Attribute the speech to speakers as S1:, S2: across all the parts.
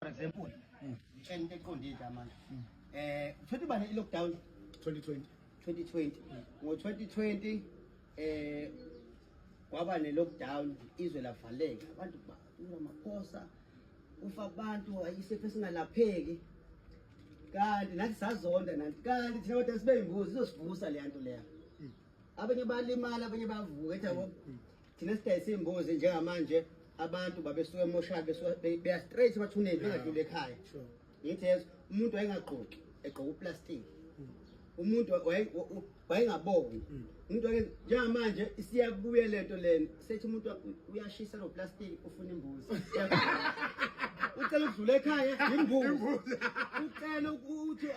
S1: for example mm. ngitshela into eqondile la manje mm. eh uthola ibane i-lockdown 2020 2020 mm. ngo-2020 eh kwaba ne-lockdown izwe lavaleka abantu badula amaphosa ufa abantu isifo esingalapheki kanti nathi sazonda nanti kanti thina kodwa sibeyimbuzi izosivusa leya nto leya abanye balimala abanye bavuka ethi thina sidayisa iy'mbuzi njengamanje abantu babesuke emoshali besuka beya straight emathuneni bengadluli ekhaya ngithi yezo umuntu wayengagqoki egqoka uplastic hmm. umuntu wayengaboni hmm. umuntu njengamanje isiyabuye lento lena sethi umuntu uyashisa lo plastic funa imbuzi ucela ukudlula ekhaya yimbuzi ucela ukuthi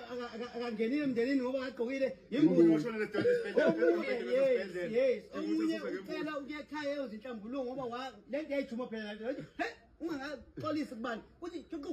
S1: akangenile emndenini ngoba akagqokile yimbuzi omunye ucela ukuya ekhaya eyozinhlambuluko ngoba le nto yayijuma phela ungangaxolisi kubani kuthi juqu